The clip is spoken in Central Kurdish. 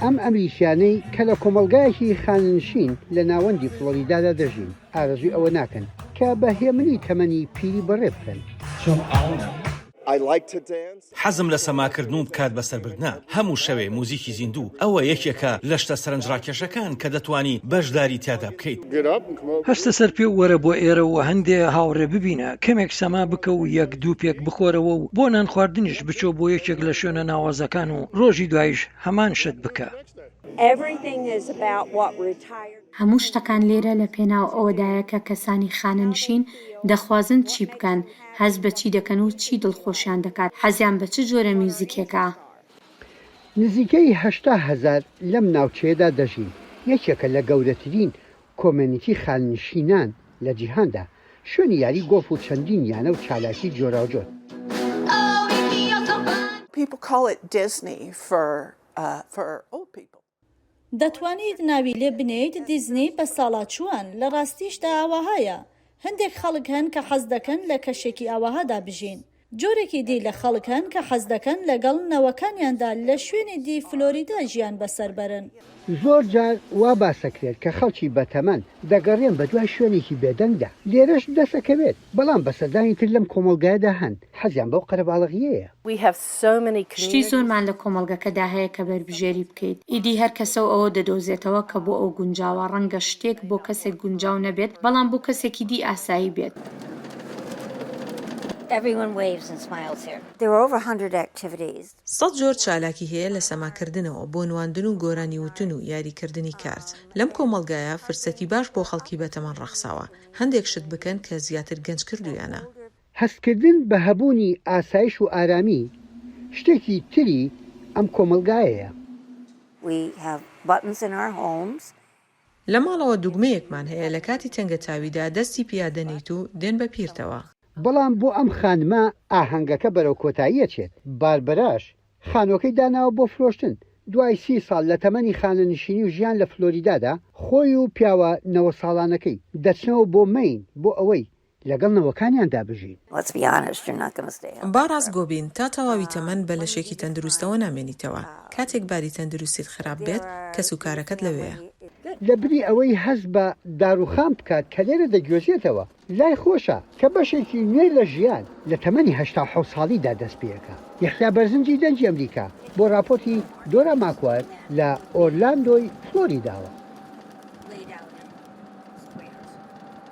ئەم ئەمریکیانەی کە لە کۆمەلگایەکی خاننشین لە ناوەندی فلۆریدادا دەژین ئارزوی ئەوە ناکەن کە بە هێمنی تەمەنی پیری بەڕێ بکەن. حەزم لە سەماکردن و کات بەسەربردنە. هەموو شەوێ موزیکی زیندوو ئەوە یەکێکە لە شتە سەرنجڕاکێشەکان کە دەتوانی بەشداری تیادا بکەی. بکەیت. هەستە سەر پێ و وەرە بۆ ئێرە و هەندێ هاوڕێ ببینە، کەمێک سەما بکە و یەک دوو پێک بخۆرەوە و بۆ نانخواردنیش بچۆ بۆ یەکێک لە شوێنە ناوازەکان و ڕۆژی دوایش هەمان شت بکە. هەموو شتەکان لێرە لە پێناو ئەوەدایە کە کەسانی خانەنشین دەخوازن چی بکەن، هەست بە چی دەکەن و چی دڵخۆشیان دەکات، حەزیان بە چ جۆرە میوزیکێکە. نزیکەی هەشتا هەزار لەم ناوچەیەدا دەژین، یەکێکە لە گەورەترین کۆمێنیتی خاننشینان لە جیهاندا، شوێنی یاری گۆڵف و چەندین یانە و چالاکی جۆراوجۆر. People call it Disney for for old people. دەتوانیت ناوی لێ بنێیت دیزنی بە ساڵاچووان، لە ڕاستیشدا ئاوەهایە. هەندێک خەڵک هەن کە حەز دەکەن لە کەشێکی ئاوەهادا بژین. جۆرێکی دی لە خەڵک هەن کە حەز دەکەن لەگەڵ نەوەکانیاندا لە شوێنی دی فلۆریدا ژیان بەسەر بەرن. زۆر جار وا باس دەکرێت کە خەڵکی بەتەمەن دەگەڕێن بەدوای شوێنێکی بێدەنگدا، لێرەش دەست ئەکەوێت، بەڵام بەسەدانی تر لەم کۆمەڵگایەدا هەن حەزیان بەو قەرەباڵەغیەیە. شتی زۆرمان لە کۆمەڵگەکەدا هەیە کە بەربژێری بکەیت ئیدی هەر کەسە و ئەوە دەدۆزێتەوە کە بۆ ئەو گونجاوە ڕەنگە شتێک بۆ کەسێک گونجاو نەبێت بەڵام بۆ کەسێکی دی ئاسایی بێت. سەد جۆر چالاکی هەیە لە سەما کردنەوە بۆ نواندن و گۆرانی وتن و یاری کردنی کارت لەم کۆمەڵگایە فرسەتی باش بۆ خەڵکی بەتەمەن ڕەخساوە هەندێک شت بکەن کە زیاتر گەنج کردویانە. هەستکردن بە هەبوونی ئاسایش و ئارامی، شتێکی تری ئەم کۆمەڵگایەیە. We have buttons in our homes. لە ماڵەوە دوگمەیەکمان هەیە لە کاتی تەنگەتاویدا دەستی پیا دەنێیت و دێن بە پیرتەوە. بەڵام بۆ ئەم خانمە ئاهەنگەکە بەرەو کۆتایی ئەچێت، باربەراش خانووەکەی داناوە بۆ فرۆشتن، دوای سی ساڵ لە تەمەنی خانەنشینی و ژیان لە فلۆریدادا، خۆی و پیاوە نەوە ساڵانەکەی دەچنەوە بۆ مەین بۆ ئەوەی لەگەڵ نەوەکانیاندا بژین. با ڕاستگۆ بین، تا تەواوی تەمەن بە لەشێکی تەندروستەوە نامێنیتەوە. کاتێک باری تەندروستیت خراپ بێت، کەسوکارەکەت لەوێیە. لەبری ئەوەی هەست بە داروخان بکات کە لێرە دەگوێزێتەوە، لای خۆشە کە بەشێکی نوێ لە ژیان لە تەمەنی هەشتا و حەوت ساڵیدا دەست پێکات. یەحیا بەرزنجی دەنگی ئەمریکا بۆ ڕاپۆرتی دۆرا ماکوەر لە ئۆرلاندۆی فلۆریداوە.